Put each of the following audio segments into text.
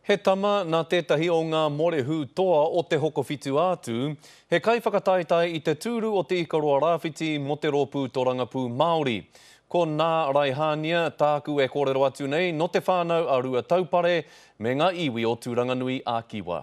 He tama nā tētahi o ngā morehu toa o Te Hokowhitu-a-Tū, he kaiwhakataetae i te tūru o Te Ikaroa Rāwhiti mō te Rōpū Torangapū Māori. Ko Nā Raihānia tāku e kōrero atu nei, nō Te Whānau a Ruataupare me ngā iwi o Tūranganui-a-Kiwa.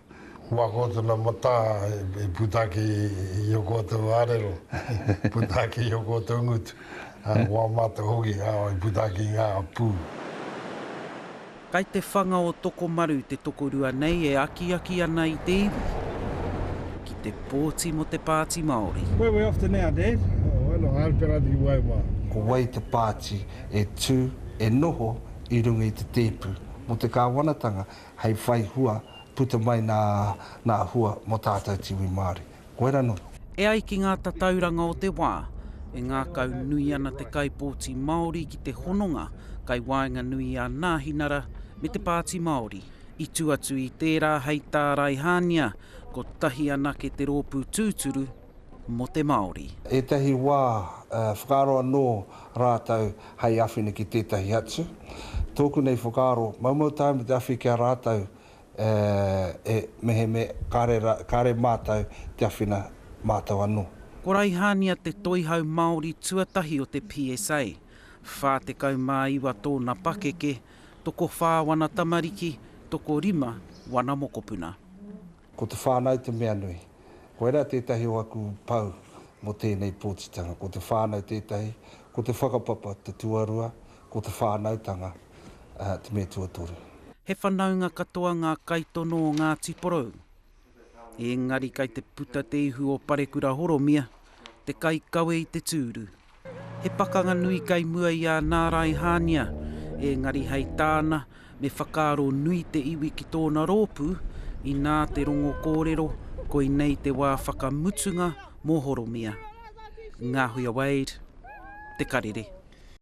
Kua ko tona mata e puta ake i o koutou arero, puta ake i o koutou ngutu, a ko a matou hoki e puta ake i nga pu. Kai te whanga o Tokomaru te tokorua nei e akiaki ana i te iwi ki te pōti mo te Pāti Māori. Where we off to now, Dad? Oh, ano a Alpera di Waiwa. Ko wai te pāti e tū, e noho i runga i te tēpu? Mō te kāwanatanga, hei whai hua puta mai nā nā hua mō tātou te iwi Māori. Koira nō. E ai ki ngā tatauranga o te wā, e ngākau nui ana te kaipōti Māori ki te hononga kai waenganui i a Nāhinara me te Pāti Māori. I tū atu i tērā hei tāraihānia, kotahi anake te rōpū tūturu, mō te Māori. Ētahi wā, whakaaro anō rātou hei awhina ki tētahi atu. Tōku nei whakaaro, maumau taea me te awhi ki a rātou e meheme kāre mātou te awhina mātou anō. Ko Raihania te toihau Māori tuatahi o te PSA, 49 tōna pakeke, tokowhā wana tamariki, tokorima wana mokopuna. Ko te whānau te mea nui. Koirā tētahi o aku pou mō tēnei pōtitanga. Ko te whānau tētahi, ko te whakapapa te tuarua, ko te whānautanga te mea tuatoru. He whanaunga katoa ngā kaitono o Ngāti Porou. Ēngari kei te puta te ihu o Parekura Horomia, te kaikawe i te tūru. He pakanga nui kai mua i a Nāraihānia, ēngari hei tāna, me whakaaro nui te iwi ki tōna rōpū, inā te rongo kōrero, koinei te wā whakamutunga mō Horomia. Ngāhuia Wade, Te Karere.